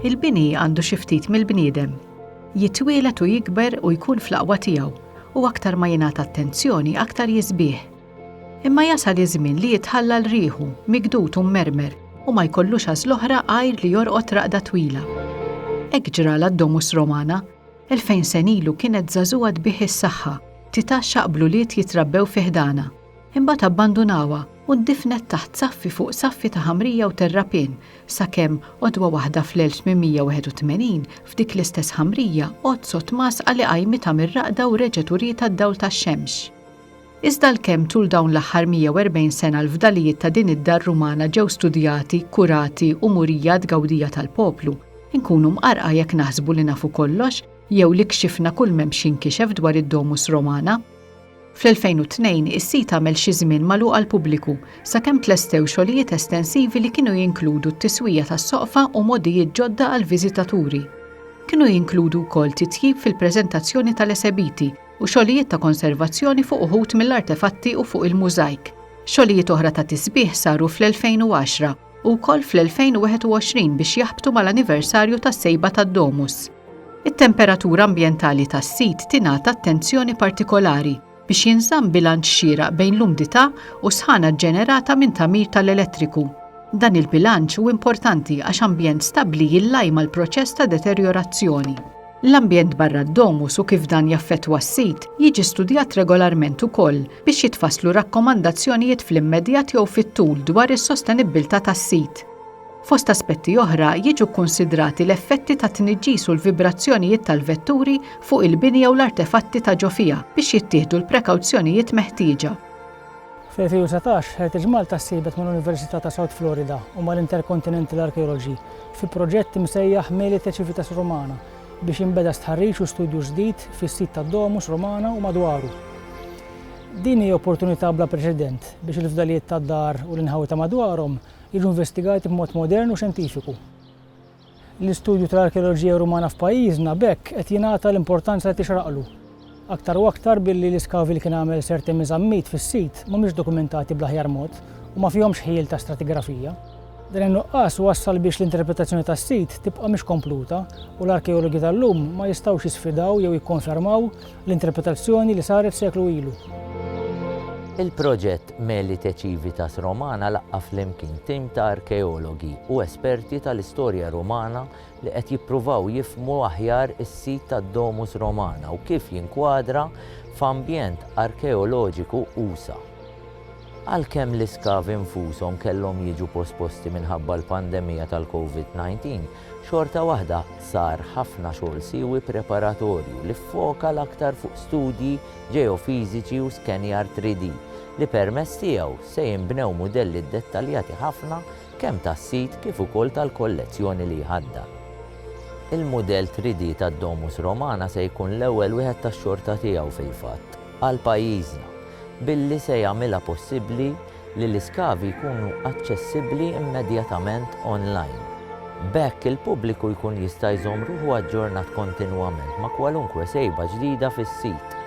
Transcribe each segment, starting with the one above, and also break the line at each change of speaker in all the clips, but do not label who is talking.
Il-bini għandu xi ftit mill-bniedem. Jitwielet u jikber u jkun fl-aqwa tiegħu, u aktar ma jingħata attenzjoni aktar jisbih. Imma jasal iż-żmien li jitħalla l riħu, migdud u mmermer, u ma jkollux għażl oħra għajr li jorqod raqda twila. Hekk ġra lad-Domus Romana. Elfejn sen ilu kienet żagħżugħa tbigħ is-saħħa, titha xaqblu wlied jitrabbew fi ħdanha. Imbagħad abbandunawha u ndifnet taħt saffi fuq saffi ta' ħamrija u terrapien, sakemm, għodwa waħda fl-1881, f'dik l-istess ħamrija, għodd sott masqa li qajmitha mir-raqda u reġgħet urietha d-dawl tax-xemx. Iżda għalkemm tul dawn l-aħħar 140 sena l-fdalijiet ta' din id-dar Rumana ġew studjati, kurati u murija għat-tgawdija tal-poplu, inkunu mqarrqa jekk naħsbu li nafu kollox jew li kxifna kull m'hemmx jinkixef dwar id-Domus Romana. Fl-2002 is-sit għamel xi żmien magħluq għall-pubbliku sakemm tlestew xogħlijiet estensivi li kienu jinkludu t-tiswija tas-soqfa u mogħdijiet ġodda għall-viżitaturi. Kienu jinkludu wkoll titjib fil-preżentazzjoni tal-esebiti u xogħlijiet ta' konservazzjoni fuq uħud mill-artefatti u fuq il-mużajk. Xogħlijiet oħra ta' tisbiħ saru fl-2010 u wkoll fl-2021 biex jaħbtu mal-anniversarju tas-sejba tad-Domus. It-temperatura ambjentali tas-sit tingħata attenzjoni partikolari biex jinżamm bilanċ xieraq bejn l-umdità u s-sħana ġġenerata minn tagħmir tal-elettriku. Dan il-bilanċ hu importanti għax ambjent stabbli jillajma l-proċess ta' deterjorazzjoni. L-ambjent barra d-domus u kif dan jaffettwa s-sit jiġi studjat regolarment ukoll biex jitfasslu rakkomandazzjonijiet fl-immedjat jew fit-tul dwar is-sostenibbiltà tas-sit. Fost aspetti oħra jiġu kkunsidrati l-effetti tat-tniġġis u l-vibrazzjonijiet tal-vetturi fuq il-bini jew l-artefatti ta' ġo fiha biex jittieħdu l-prekawzjonijiet meħtieġa. Fl-2019,
Heritage Malta ssieħbet mal-Università ta' South Florida u mal-Intercontinental Archaeology fi proġett imsejjaħ Melite Civitas Romana biex jinbeda stħarriġ u studju ġdid fis-sit tad-Domus Romana u madwaru. Din hi opportunità bla preċedent biex il-fdalijiet tad-dar u l-inħawi ta' madwarhom jiġu investigati b'mod modern u xjentifiku. L-istudju tal-arkeoloġija Rumana f'pajjiżna b'hekk qed jingħata l-importanza li tixraqlu. Aktar u aktar billi l-iskavji li kien għamel Sir Timmy Zammit fis-sit mhumiex dokumentati bl-aħjar mod u ma fihomx ħjiel ta' stratigrafija. Dan in-nuqqas wassal biex l-interpretazzjoni tas-sit tibqa' mhix kompluta u l-arkeologi tal-lum ma jistgħux jisfidaw jew jikkonfermaw L-interpretazzjoni li saret seklu ilu. Il-proġett
Meli te Civitas Romana laqqa' flimkien tim ta' arkeologi u esperti tal-istorja Rumana li qed jippruvaw jifhmu aħjar is-sit tad-Domus Romana u kif jinkwadra f'ambjent arkeoloġiku usa'. Għalkemm l-iskavi nfushom kellhom jiġu posposti minħabba l-pandemija tal-COVID-19, xorta waħda sar ħafna xogħol siewi preparatorju li ffoka l-aktar fuq studji ġeofiżiċi u skenjar 3D li permezz tiegħu se jinbnew mudelli ddettaljati ħafna kemm tas-sit kif ukoll tal-kollezzjoni li jħaddar. Il-mudell 3D tad-Domus Romana se jkun l-ewwel wieħed tax-xorta tiegħu fil-fatt għal pajjiżna billi se jagħmilha possibbli li l-iskavi jkunu aċċessibbli immedjatament online. B'hekk il-pubbliku jkun jista' jżomm ruħu aġġornat kontinwament ma' kwalunkwe sejba ġdida fis-sit.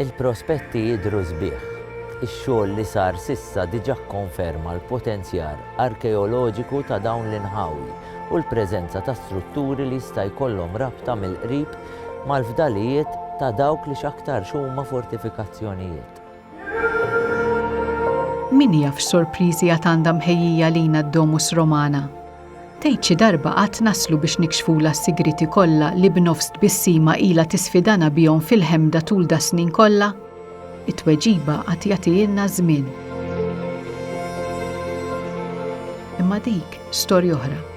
Il-prospetti jidhru sbieħ. Ix-xogħol li sar s'issa diġà kkonferma l-potenzjar arkeoloġiku ta' dawn l-inħawi u l-preżenza ta' strutturi li jista' jkollhom rabta mill-qrib mal-fdalijiet ta' dawk li x'aktarx huma fortifikazzjonijiet.
Min jaf x'sorpriżi għad għandha mħejjija lina d-Domus Romana. Tgħid xi darba għad naslu biex nikxfulha s-sigrieti kollha li b'nofs tbissima ilha tisfidana bihom fil-ħemda tul das-snin kollha? It-tweġiba għad jagħtihielna ż-żmien. Imma dik storja oħra.